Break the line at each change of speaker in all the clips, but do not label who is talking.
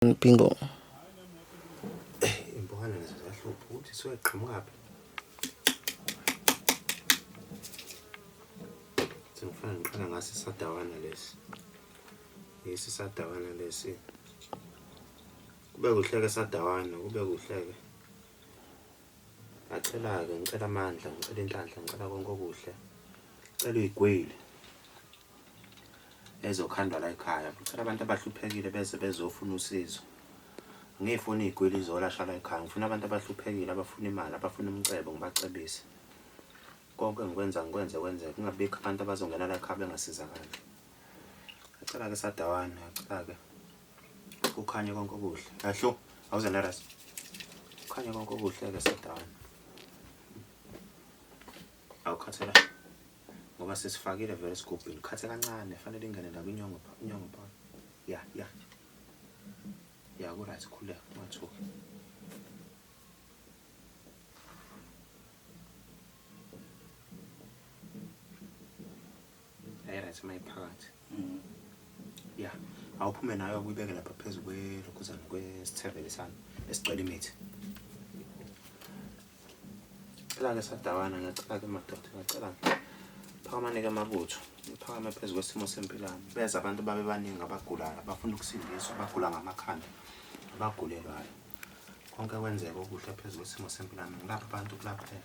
Bingo.
Eh, impuhana nazo ziyahlupha ukuthi suke qhamukaphi. Sengifana ngiqala ngase sadawana lesi. Yesi sadawana lesi. Kube kuhleke sadawana, kube kuhleke. Ngacela-ke, ngicela amandla, ngicela inhlanhla, ngicela konke okuhle. Ngicela uyigwili. ezokhandwa la ekhaya ngicela abantu abahluphekile beze bezofuna usizo ngiyifuna iy'gwili izolasha la ekhaya ngifuna abantu abahluphekile abafuna imali abafuna umcebo ngibacebise konke ngikwenza ngikwenze kwenzeka kungabikho abantu abazongena la ekhaya bengasizakali acela-ke sadawana acela-ke kukhanye konke okuhle ahlo awuze nerest kukhanye konke okuhle-ke sadawana awukhathalani ngoba sesifakile vele esigubhini khathe kancane fanele ingene la kwinyongo pha inyongo pha ya ya ya ku right khuleka ungathuki ayi right mayiphakathi mm. ya awuphume nayo kuyibeke lapha phezu kwelokhuzana kwesithebele sami esigcwele imithi ngicela ke sadawana ngiyacela ke madoda ngiyacela phakamane ke mabutho ngiphakame phezu kwesimo sempilami beza abantu babe baningi abagulayo abafuna ukusindiswa abagula ngamakhanda abagulelwayo konke kwenzeka okuhle phezu kwesimo sempilami ngilapha abantu kulaphela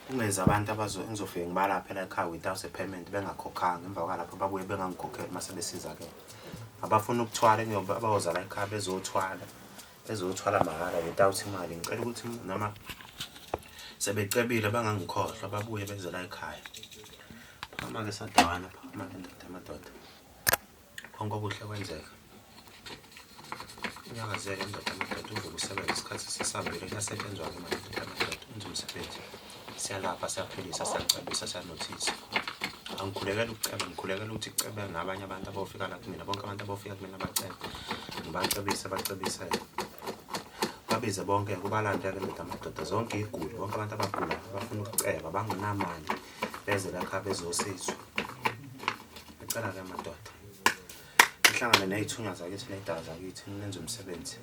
kungenza abantu engizofike ngibalaphe la ekhaya without a payment bengakhokhanga emva kwalapho babuye bengangikhokheli uma sebesizakele abafuna ukuthwala abayoza la ekhaya bezothwala ezothwala mahhala without imali ngicela ukuthi noma sebecebile bangangikhohlwa babuye bezela ekhaya phakama-ke sadawana phakama-ke ndoda amadoda konke okuhle kwenzeka unyakazeke ndoda amadoda uvuka usebenza isikhathi sisambile kuyasetshenzwa-ke manje ndoda amadoda enza umsebenzi siyalapha siyaphilisa siyacebisa siyanothisa angikhulekela ukuceba ngikhulekela ukuthi kucebe nabanye abantu abofika la kumina bonke abantu abofika kumina bacebe ngibacebise bacebisele babize bonke kubalande-ke ndoda amadoda zonke iy'guli bonke abantu abagula abafuna ukuceba bangenamali beze lakha bezosizwa ngicela-ke madoda nihlangane ney'thunywa zakithi ney'dala zakithi nenze umsebenzi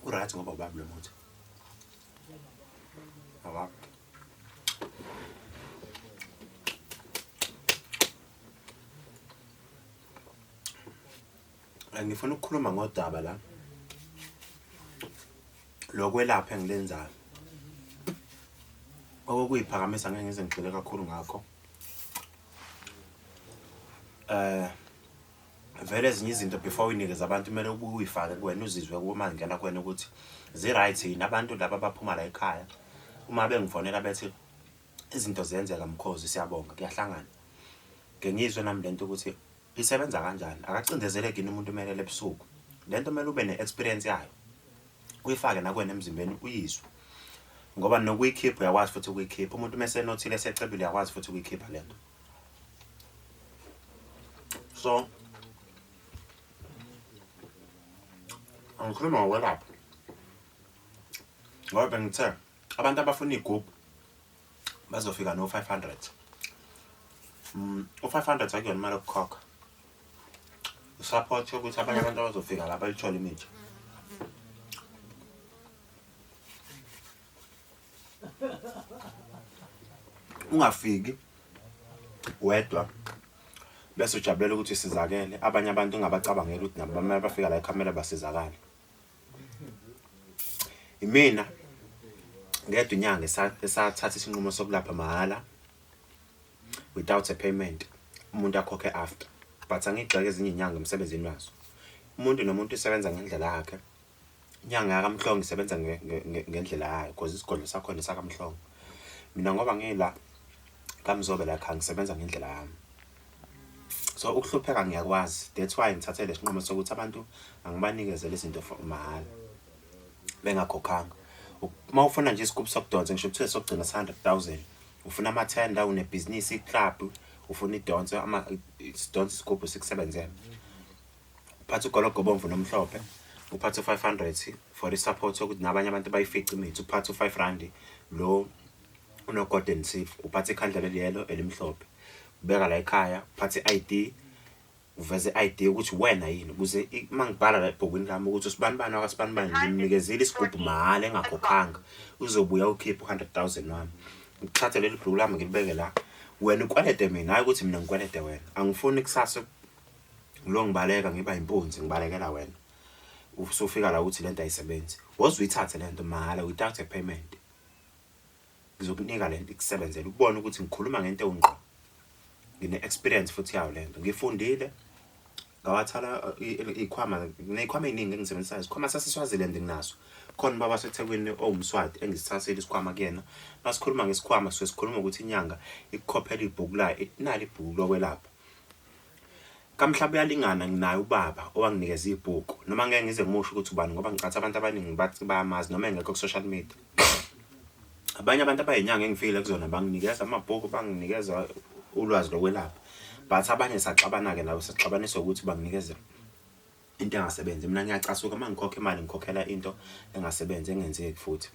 Urathi ngoba ubaba lo muthi. Awakho. ngifuna ukukhuluma ngodaba la lokwelapha engilenzayo okuyiphakamisa ngeke ngize ngigxile kakhulu ngakho eh vele ezinye izinto before uyinikeza abantu kumele ubuye uyifake kuwena uzizwe uma ngena kuwena ukuthi zi-right yini abantu laba baphuma la ekhaya uma bengifonela bethi izinto ziyenzeka mkhozi siyabonga kuyahlangana ngengizwe nami lento ukuthi Isebenza kanjani? Akacindezeleki yini umuntu umelele ebusuku? Le nto kumele ube ne-experience yayo uyifake nakwena emzimbeni uyizwe ngoba nokuyikhipha uyakwazi futhi ukuyikhipha umuntu uma esenothile esecebile uyakwazi futhi ukuyikhipha le nto so angikhuluma ngokwelapha ngoba bengithe abantu abafuna iy'gubhu bazofika no-five hundred mm, u-five hundred akuyona imali yokukhokha usupport yokuthi abanye abantu abazofika la bayithole imithi ungafiki wedwa bese ujabulela ukuthi sizakele abanye abantu ungabacabangela ukuthi nabo bamele bafika la ekhamera basizakale Imina ngedwa inyanga esathatha isinqumo sokulapha mahhala without a payment umuntu akhokhe after but angigxeke ezinye inyanga emsebenzini wazo umuntu nomuntu usebenza ngendlela yakhe inyanga yakamhlongo isebenza ngendlela yayo because isigodlo sakhona sakamhlongo mina ngoba ngila kamzobe la khangisebenza ngendlela yami so ukuhlupheka ngiyakwazi that's why ngithathe lesinqumo sokuthi abantu angibanikezele izinto for mahhala bengakhokhanga uma ufuna nje isikubu sokudonsa ngisho kuthiwe sokugcina 100000 ufuna ama tender une business iclub ufuna idonse ama sidonse isigubhu sikusebenzela uphatha ugologo bomvu nomhlophe uphatha u500 for i support sokuthi nabanye abantu bayifice imithi uphatha u5 rand lo unoGordon Seif uphatha ikhandla leliyelo elimhlophe ubeka la ekhaya uphatha i-ID uveze i-ID ukuthi wena yini ukuze uma ngibhala la ebhukwini lami ukuthi usibani bani wakasibani bani ngimnikezile isigubhu mahhala engakhokhanga uzobuya ukhiphe u-hundred thousand wami ngithathe leli bhuku lami ngilibeke la wena ukwelede mina hhayi ukuthi mina ngikwelede wena angifuni kusasa lo ngibaleka ngiba yimpunzi ngibalekela wena usufika la ukuthi lento ayisebenzi woze uyithathe lento mahhala without a payment ngizokunika lento ikusebenzele ubone ukuthi ngikhuluma ngento ewungqo ngine experience futhi yawo lento ngifundile ngawathala uh, ikhwama nezikhwama eziningi engisebenzisayo isikhwama saseswaziland nginaso khona ubaba wasethekwini owumswati engisithathile isikhwama kuyena masikhuluma ngesikhwama suke sikhuluma ukuthi inyanga ikukhophela ibhuku layo nali ibhuku lokwelapha Kamhlaba uyalingana nginaye ubaba owanginikeza ibhuku noma ngeke ngize ngimusho ukuthi ubani ngoba ngicathi abantu abaningi bathi bayamazi noma engekho ku-social media abanye abantu abayinyanga engifikile kuzona banginikeza amabhuku banginikeza ulwazi lokwelapha but abanye saxabana-ke nabo saxabaniswa ukuthi banginikeze into engasebenzi mina ngiyacasuka uma ngikhokha imali ngikhokhela into engasebenzi engenzeki futhi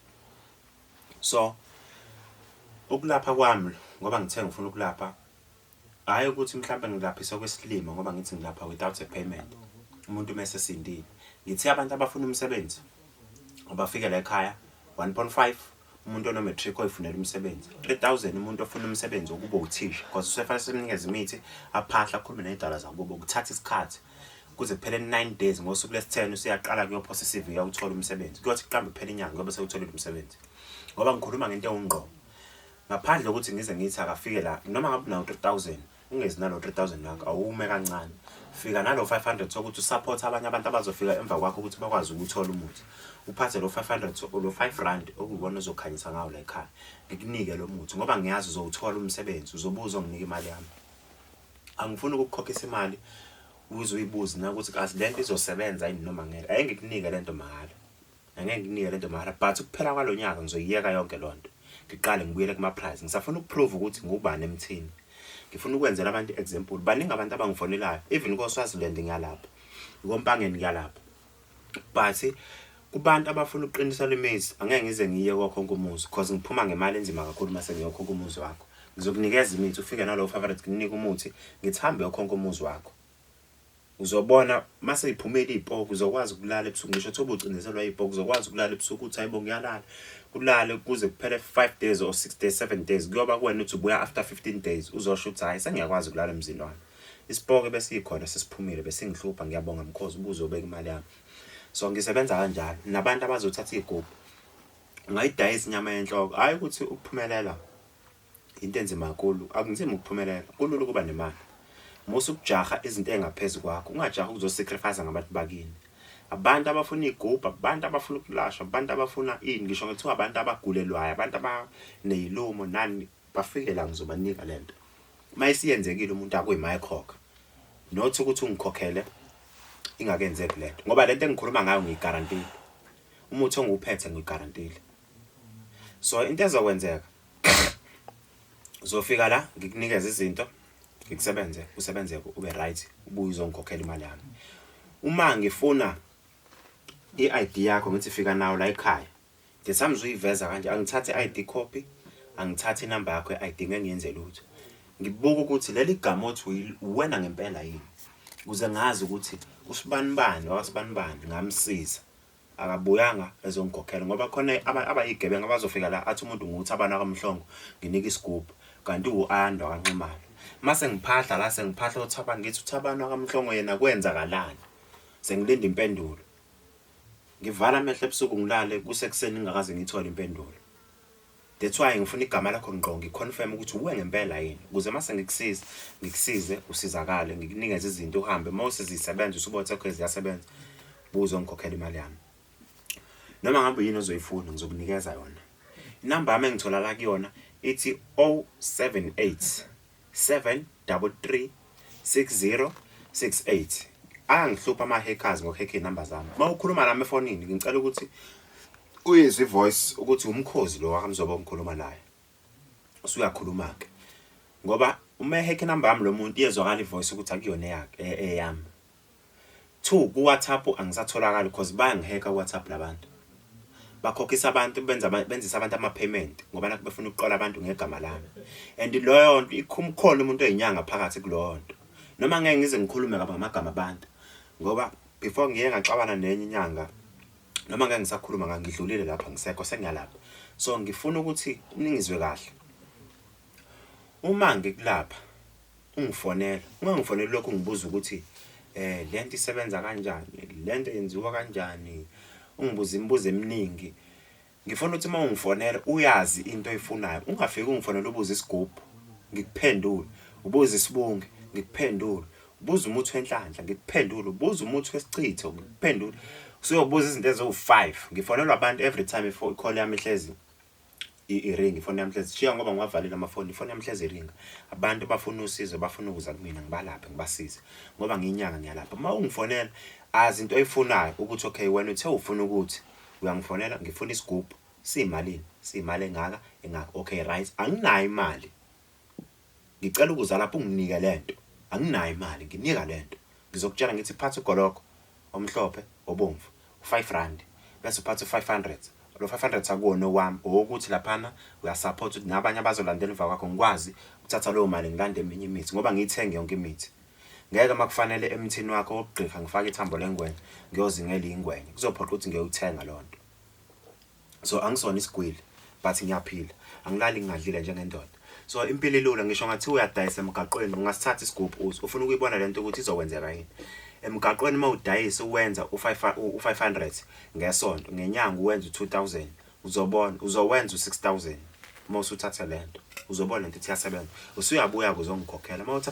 so ukulapha kwami ngoba ngithe ngifuna ukulapha hhayi ukuthi mhlawumbe ngilaphisa okwesilima ngoba ngithi ngilapha without a payment umuntu uma esesindile ngithe abantu abafuna umsebenzi abafike la ekhaya 1.5 umuntu onomatric oyifunela umsebenzi 3000 umuntu ofuna umsebenzi wokuba uthisha because usefanele simnikeze imithi aphahla akhulume ney'dala zakubo kuthatha isikhathi kuze kuphele 9 days ngosuku lesi-10 usuyaqala kuyophosa i-cv yawuthola umsebenzi kuyothi kuqambe kuphela inyanga kuyobe sewutholile umsebenzi ngoba ngikhuluma ngento ewungqobo ngaphandle kokuthi ngize ngithi akafike la noma ngabe unawo 3000 ungezi nalo 3000 lakho awume kancane fika nalo 500 sokuthi usupport abanye abantu abazofika emva kwakho ukuthi bakwazi ukuthola umuthi uphathe lo 500 lo 5 rand okuwona ozokhanyisa ngawo la ekhaya ngikunike lo muthi ngoba ngiyazi uzowuthola umsebenzi uzobuza onginike imali yami angifuni ukukukhokhisa imali uze uyibuze na ukuthi kazi lento izosebenza yini noma ngeke ayengikunika lento mahhala angeke nginike lento mahara but kuphela kwalonyaka ngizoyiyeka yonke lonto ngiqale ngibuyele kuma prize ngisafuna ukuprove ukuthi ngubani emthini ngifuna ukwenzela abantu example baningi abantu abangifonelayo even ko Swaziland ngiyalapha ikompangeni ngiyalapha but kubantu abafuna ukuqinisa lemizi angeke ngize ngiye kokho nkumuzi because ngiphuma ngemali enzima kakhulu mase ngiyokho kumuzi wakho ngizokunikeza imithi ufike nalowo favorite nginike umuthi ngithambe yokho nkumuzi wakho Uzobona mase iphumela iy'poki uzokwazi ukulala ebusuku ngisho thoba ucindezelwa iy'poki uzokwazi ukulala ebusuku uthi hayibo ngiyalala kulale kuze kuphele five days or six days seven days kuyoba kuwena ukuthi ubuya after fifteen days uzosho ukuthi hhayi sengiyakwazi ukulala emzini wami isipoke besiyikhona sesiphumile besingihlupha ngiyabonga mkhozi ubuze obeka imali yami so ngisebenza kanjalo nabantu abazothatha iy'gubhu ungayidayisa inyama yenhloko hhayi ukuthi ukuphumelela Into enzima kakhulu, akunzima ukuphumelela, kulula ukuba nemali. Musa ukujaha izinto ezingaphezu kwakho, ungajahi ukuzosacrifice ngabantu bakini. Abantu abafuna iy'gubhu, abantu abafuna ukulashwa, abantu abafuna ini, ngisho ngithiwa abantu abagulelwayo, abantu abaney'lumo nani, bafike la ngizobanika le nto. Uma isiyenzekile umuntu akuyimayikhokha, not ukuthi ungikhokhele ingakenzeki le nto, ngoba le nto engikhuluma ngayo ngiyigarantile, umuthi ongiwuphethe ngiyigarantile. So into ezokwenzeka uzofika la ngikunikeza izinto ngikusebenze usebenze ube right ubuye uzongikhokhela imali yami uma ngifuna i-ID yakho ngithi fika nawo la ekhaya the times uyiveza kanje angithathe i-ID copy angithathe inamba yakho ye-ID ngeke ngiyenze lutho ngibuka ukuthi leli gama othi uwena ngempela yini kuze ngazi ukuthi usibanibani wakasibanibani ngamsiza akabuyanga ezongikhokhela ngoba khona abayigebenga abazofika la athi umuntu nguthi abana kamhlongo nginika isigubhu kanti uandwa kanximalo mase ngiphahla la sengiphahla uthaba ngithi uthabana kamhlongo yena kwenzakalani sengilinda impendulo ngivala amehlo ebusuku ngilale kusekuseni ngingakaze ngithole impendulo That's why ngifuna igama lakho ngqo ngiconfirm ukuthi uwe ngempela yini ukuze mase ngikusiza ngikusize usizakale ngikunikeze izinto uhambe mose zisebenza usubothe okay ziyasebenza buzo ngikhokhela imali yami noma ngabe yini ozoyifuna ngizokunikeza yona inamba yami engitholala kuyona ithi 078 7336068 angihlupha ama hackers ngo hack number zami uma ukhuluma nami efonini ngicela ukuthi uyizwe ivoice ukuthi umkhozi lo wakamzoba ongikhuluma naye usuyakhuluma ke ngoba uma hack number yami lo muntu iyezwakala ivoice ukuthi akuyona eyakhe eyami Two ku WhatsApp angisatholakali cause bayangihekha ku WhatsApp labantu. Bakhokhisa abantu benza benzisa abantu ama payment ngoba nakho befuna ukuqola abantu ngegama lami. And loyo nto ikhumkhona umuntu oyinyanga phakathi kuloyo nto. Noma ngeke ngize ngikhulume kabi ngamagama abantu ngoba before ngiye ngaxabana nenye inyanga noma ngeke ngisakhuluma ngangidlulile lapha ngisekho sengiyalapha. So ngifuna ukuthi ningizwe kahle. Uma ngikulapha ungifonela ungangifoneli lokhu ngibuza ukuthi eh lento isebenza kanjani lento yenziwa kanjani ungibuza imibuzo eminingi ngifuna ukuthi uma ungifonela uyazi into oyifunayo ungafiki ungifonela ubuze isigubhu ngikuphendule ubuze isibunge ngikuphendule ubuze umuthi wenhlanhla ngikuphendule ubuze umuthi wesichitho ngikuphendule usuyobuza izinto eziwu-five ngifonelwa abantu every time ikhona yami ihlezi iringi ifoni yamhlezi shiya ngoba ngiwavalile amafoni ifoni yamhlezi iringa abantu bafuna usizo bafuna ukuza kumina ngibalaphe ngibasize ngoba ngiyinyanga ngiyalapha uma ungifonela azi into oyifunayo ukuthi okay wena uthe ufuna ukuthi uyangifonela ngifuna isigubhu siyimalini siyimali engaka engaka okay right anginayo imali Ngicela ukuza lapho unginike lento. Anginayo imali, nginika lento. Ngizokutshela ngithi phatha ugologo omhlophe obomvu u-five randi bese uphatha u-five hundred. Lo five hundred akuwona owami, owokuthi laphana uyasaphotha ukuthi nabanye abazolandela emva kwakho ngikwazi ukuthatha leyo mali ngilande eminye imithi ngoba ngiyithenge yonke imithi. Ngeke uma kufanele emthini wakho wokugqirha ngifake ithambo lengwenya, ngiyozingela iy'ngwenya. Kuzophoqa ukuthi ngiyowuthenga leyo nto. so angisona isigwili but ngiyaphila angilali ngingadlile njengendoda so impilo ilula ngisho ngathiwa uyadayisa emgaqweni ungasithatha isigubhu uthi ufuna ukuyibona le nto ukuthi izokwenzeka yini emgaqweni uma udayisa uwenza u-500 ngesonto ngenyanga uwenza u-2000 uzobona uzowenza u-6000 uma usuthatha le nto uzobona le nto ithi yasebenza usuyabuya-ke uzongikhokhela uma uthatha